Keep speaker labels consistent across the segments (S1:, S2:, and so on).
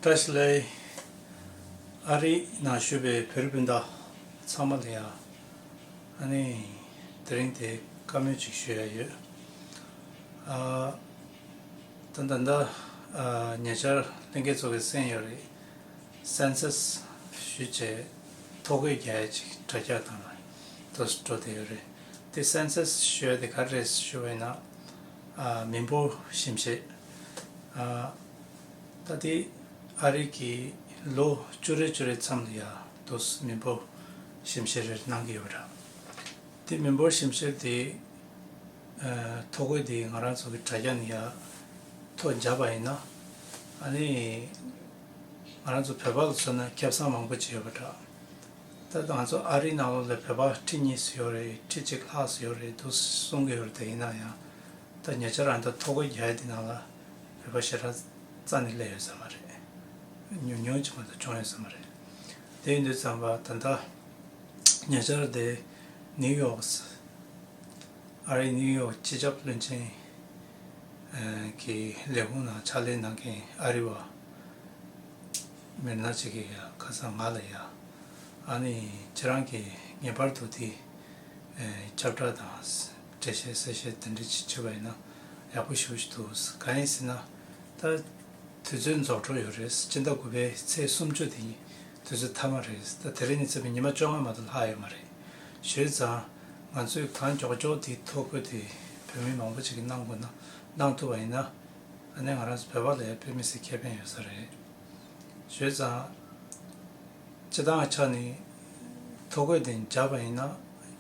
S1: ཏཱ་སི་ལའི་ཨ་རིའི་ནང་བཞུགས་པའི་བོད་རིགས་སྤུན་ཟླ་ཚང་མ་ལ་ཡང་དེ་རིང་དེ་བཀའ་མོལ་ཅིག་ཞུ་ཡ་ཡོད། ད་ད་ལྟ་ཉེ་ཆར་ལྷན་རྒྱས་ཚོགས་པའི་གསན་ཡོད་རེད Census ཞུས་བྱས་ཐོ་འགོད་རྒྱ་ཡ་ཅིག་དྲ་རྒྱ་དང་ལ་དོ་སི་འགྲོ་བསྡད་ཡོད་རེད་དེ Census ཞུས་ཡ་དེ་ག་རེ་རེད་ཞུ་བའི་ན། མི་འབོར་ཞིབ་བཤེར། ད་ལྟའི་ཨ་རིག་གིས་ལོ་བཅུ་རེ་བཅུ་རེ་ཙམ་ལ་ཡང་དུས་མི་འབོར་ཞིབ་བཤེར་རེར་གནང་གི་ཡོད་རེད། དེ་མི་འབོར་ཞིབ་བཤེར་དེ་ཐོ་འགོད་དེ་ང་རང་ཚོ་གི་དྲ་རྒྱ་ནས་ཡང་ཐོ་སྦྱར་བ་ཡིན་ན། ཨ་ནི་ང་རང་ཚོ་བོད་པ་ལ་མཚོན་ན་ཁྱབ་སངས་མང་པོ་བྱས་ཡོད་པ་འདྲ། ད་ལྟ་ང་ཚོ་ཨ་རིའི་ནང་ལོགས་ལ་བོད་པ་ཁྲི་གཉིས་སུ་ཡོད་རེད་ཁྲི་གཅིག་ལྷག་སུ་ཡོད་རེད་འདུག་གསུང་གི་ཡོད་རེད་ཡིན་ན་ཡང་ད་ཉེ་ཆར་རང་ད་ཐོ་གོ་རྒྱལ་འདི་ནང་ལ་བོད་པ་ཞེ་དྲག་རྩ་ནས་སླེབས་ཡོད་ས་མ་རེད་ཉུང་ཉུང་ཅིག་མ་གཏོགས་བྱུང་ཡོད་ས་མ་རེད་དེ་ཡིན་དུས་ཙམ་པ་ད་ལྟ་ཉེ་ཆར་དེ་ནིའུ་ཡོག་ཨ་རིའི་ནིའུ་ཡོག་སྤྱི་ཁྱབ་བློན་ཆེན་གྱི་ལས་ཁུངས་ནང་ཕྱག་ལས་གནང་མཁན་ཨ་རི་བ། མེད་ན་ཅིག་གིས་ཡང་ཁ་སང་ང་ལ་ཡང། ཨ་ནི་ཁྱེད་རང་གིས་ངེས་པར་དུ་དེ། ཁྱབ་བསྒྲགས་དང། འགྲེལ་བཤད་གསལ་བཤད་དེ་འདྲ་ཅིག་བྱེད་པ་ཡིན་ན་ཡག་པོ་ཞུ་ཞུ་འདུག་གང་ཡིན་ཟེར་ན། ད་དུས་ཚོད་རྫོགས་འགྲོ་ཡོད་རེད་སྤྱི་ཟླ་དགུ་པའི་ཚེས་སུམ་བཅུ་དེ་ནི་དུས་ཚོད་མཐའ་མ་རེད་ད་དེ་རིང་ནས་བརྩིས་པ་ཉི་མ་བཅོ་ལྔ་མ་གཏོགས་ལྷག་ཡོད་མ་རེད། བྱས་ཙང་ང་ཚོས་གང་མགྱོགས་མགྱོགས་དེའི་ཐོ་འགོད་དེ་བོད་མི་མང་པོ་ཅིག་གིས་གནང་དགོས་ན་གནང་ཐུབ་པ་ཡིན་ན། ད་ནི་ང་རང་ཚོ་བོད་པ་ལས་དཔེ་མི་སྲིད་ཁེ་ཕན་ཡོད་ས་རེད། བྱས་ཙང། སྤྱི་བཏང་ཆ་ནས། ཐོ་འགོད་དེ་འཇགས་པ་ཡིན་ན།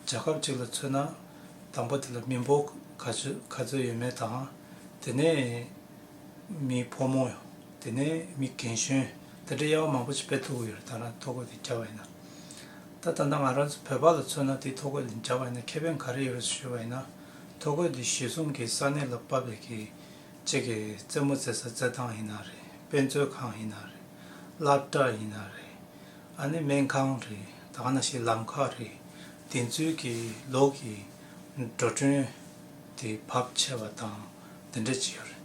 S1: རྒྱལ་ཁབ་ཅིག་ལ་མཚོན་ན། དང་པོ་དེ་ལ་མི་འབོར་ག་ཚོད་ག་ཚོད་ཡོད་མེད་དང། དེ་ནས། མི་ཕོ་མོ། དེ་ནས་མི་རྒན་གཞོན། དེ་འདྲའི་དབྱེ་བ་མང་པོ་ཞིག་སྤེལ་ཐུབ་ཀྱི་ཡོད་རེད་ད་རང་ཐོ་འགོད་དེ་འཇགས་པ་ཡིན་ན། ད་ད་ལྟ་ང་རང་ཚོ་བོད་པ་ལ་མཚོན་ན་དེ་ཐོ་འགོད་དེ་འཇགས་པ་ཡིན་ན་ཁེ་ཕན་ག་རེ་ཡོད་རེད་ཟེར་ཞུས་པ་ཡིན་ན། ཐོ་འགོད་འདི་གཞིས་གསུམ་གྱི་ས་གནས་ལ་དཔའ་བོས་ཀྱིས་གཅིག་གིས་རྩེད་མོ་རྩེ་ས་རྩེད་ཐང་ཡིན་ན་རེད་དཔེ་མཛོད་ཁང་ཡིན་ན་རེད་བླ་གྲྭ་ཡིན་ན་རེད་ཨ་ནི་སྨན་ཁང་རེད་ད་ན་ཤི་ལམ་ཁ་རེད་དེ་ཚོའི་གྱི་ལོག་གི་འགྲོ་གྲོན་དེ་བབ་ཆེ་བ་དང་འདི་འདྲ་ཇི་ཡོད་རེད་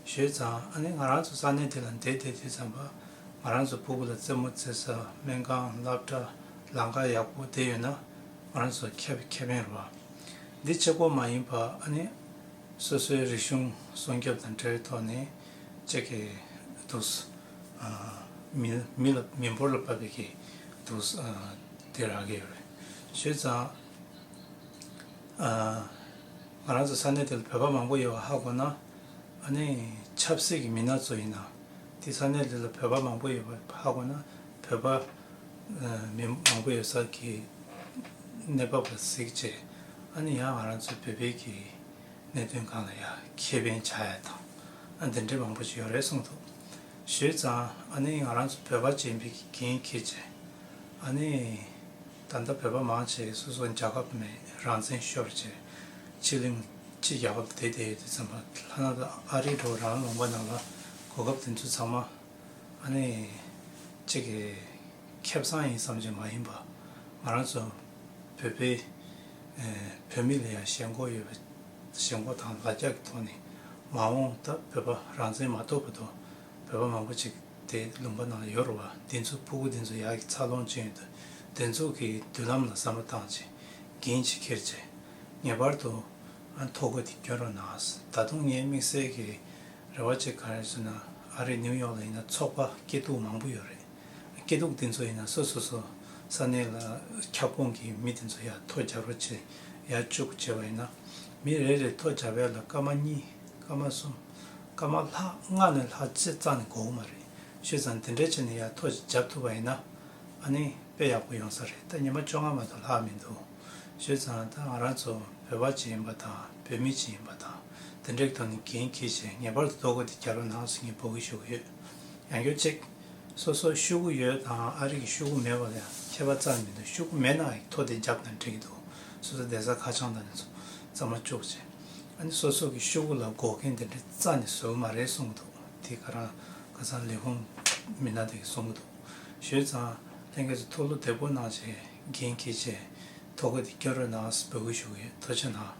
S1: ཞོད་ཙང་ཨ་ནི་ང་རང་ཚོ་ས་གནས་དེ་ལ་འདས་དེ་དུས་ཙམ་པ་ང་རང་ཚོ་བུ་གུ་ལ་རྩེད་མོ་རྩེ་ས་སྨན་ཁང་བླ་གྲྭ་ལམ་ཁ་ཡག་པོ་དེ་ཡོད་ན་ང་རང་ཚོ་ཁྱབ་ཁྱབ་ཡིན་རོ། འདི་ཆེ་སྐོར་མ་ཡིན་པར་ཨ་ནི་སོ་སོའི་རིག་གཞུང་སྲུང་སྐྱོབ་དང་འབྲེལ་བའི་ཐོག་ནས་ཅེག་གི་དུས་མི་ལ་མི་འབོར་ལ་བབས་པའི་གི་དུས་དེ་རག་གི་ཡོད་རེད། བྱས་ཙང་ང་རང་ཚོ་ས་གནས་དེ་ལ་བོད་པ་མང་པོ་ཡོད་པ་ཧ་གོ་ན་ཨ་ནི་ཆབ་སྲིད་ཀྱི་མི་སྣ་ཚོ་ཡིན་ན་དེ་ས་གནས་དེ་ལ་བོད་པ་མང་པོ་ཡོད་པ་ཧ་གོ་ན་བོད་པ། མི་མང་པོ་ཡོད་ས་ཀྱི་གནས་བབ་ལ་གཟིགས་རྗེས་ཨ་ནི་ཡང་ང་རང་ཚོའི་བོད་པའི་གི་གནད་དོན་གང་ལ་ཡང་ཁེ་ཕན་བྱ་ཡ་དང་ཨ་འདི་འདྲའི་མང་པོ་ཞིག་ཡོད་རེད་གསུངས་འདུག་ཞོལ་ཙང་ཨ་ནི་ང་རང་ཚོ་བོད་པ་ཅན་པའི་གི་རྒན་ཁྱེད་ཀྱི་ཨ་ནི་ད་ལྟ་བོད་པ་མང་ཆེ་སོ་སོ་རྒྱ་ཁབ་ནས་རང་བཙན་ཤོར་རྗེས་ཕྱི་གླིང་ཕྱི་རྒྱ་ཁབ་དེ་དེ་ཡོད་དུ་ཚུན་པ་ལྷ་ན་ལ་ཨ་རི་འགྲོ་རང་ལོངས་པ་ནང་ལ་གོ་སྐབས་དེ་ཚོ་ཚང་མ། ཨ་ནེ། ཁྱེད་ཀྱི་ཁེ་བཟང་ཡིན་བསམ་གྱི་མ་ཡིན་པ། ང་རང་ཚོ་བོད་པའི་བོད་མི་ལ་ཡང་ཞེན་ཁོག་ཡོད་པ། ཞེན་ཁོག་དང་ལ་རྒྱ་གི་ཐོག་ནས་མ་འོངས་སྟབས་བོད་པ་རང་བཙན་མ་ཐོབ་པ་དང་བོད་པ་མང་པོ་ཅིག་དེ་ལུང་པ་ནང་ཡོ་རོ་བ་འདི་ཚོ་སྤུ་གུ་འདི་ཚོ་ཡག་གི་འཚར་ལོངས་ཅན་དུ་འདི་ཚོ་གི་མདུན་ལམ་ལ་བསམ་བློ་བཏང་ཅིག་འགན་ཅིག་འཁྱེར་ཅིག་ངེས་པར་དུ་ཐོ་འགོད་འདི་སྐྱོན་རོགས་གནང་ད་དུང་ངའི་དམིགས་བསལ་གྱི། རེ་བ་ཅིག་ག་རེད་ཟེར་ན་ཨ་རིའི་ནིའུ་ཡོག་ལ་ཡིན་ན་ཚོགས་པ་སྐྱིད་སྡུག་མང་པོ་ཡོད་རེད་སྐྱིད་སྡུག་དེ་ཚོ་ཡིན་ན་སོ་སོ་སོ་ས་གནས་ལ་ཁྱབ་ཁོངས་ཀྱི་མི་དེ་ཚོ་ཡ་ཐོ་རྒྱག་རོགས་བྱེད་ཡ་བཅུག་བྱས་པ་ཡིན་ན་མི་རེ་རེ་ཐོ་རྒྱག་བས་ལ་སྐར་མ་གཉིས་སྐར་མ་གསུམ་སྐར་མ་ལྷག་ལྔ་ནས་ལྷག་བཅས་གཙང་ནས་འགོ་གོ་མ་རེད་ཤུས་ཙང་དེ་འདྲས་བྱས་ནས་ཡ་ཐོ་རྒྱབ་ཐུབ་པ་ཡིན་ན་ཨ་ནི་དཔེ་ཡག་པོ་ཡོང་ས་རེད་ད་ཉི་མ་བཅོ་ལྔ་མ་ཐོ་ལྷག་མི་འདུག་ཤུས་ཙང་ད་ང་རང་ཚོ་བོད་པ་ཅིག་ཡིན་པ་དང་བོད་མི་ཅིག་ཡིན་པ་དང། དེ་འགྲིག་ཐོག་ནས་འགན་འཁྱེར་ཆེད་ངེས་པར་དུ་ལྟོ་གོས་དེ་རྒྱ་ལོ་ནང་ཟིང་གིས་འབོག་གི་ཤུགས་ཡོད། ཡང་སྐྱོན་གཅིག། སོ་སོར་ཤུགས་གུ་ཡོད་དང་ཨ་རིག་གི་ཤུགས་གུ་མེད་པ་ལས་ཁྱད་པར་ཙམ་མི་འདུག་ཤུགས་གུ་མེད་ན་ཡིག་ཐོག་དེ་རྒྱབ་ན་འགྲིག་གི་འདུག་སོ་སོ་བསྡད་ས་ཁ་བྱང་དང་ནས་ཚོ་རྩ་མ་བཅུག་ཅེས། ཨ་ནི་སོ་སོ་གི་ཤུགས་གུ་ལ་འགོག་མཁན་དེ་འདྲ་རྩ་ནས་བཟོ་གི་མ་རེད་གསུང་གི་འདུག་དེ་ག་རང་ཁ་སང་ལས་ཁུངས་མི་སྣ་དེ་གིས་གསུང་གི་འདུག་ཞོལ་ཙང་ལྷན་རྒྱས་སུ་ཐུགས་བློ་བདེ་པོ་གནང་ཆེད་འགན་འཁྱེར་ཆེད་ལྟོ་གོས་དེ་སྐྱོ་རོས་ནང་ཟིང་འབོག་གི་ཤུགས་ཡོད་ལྟོ་ཆེ་ནང།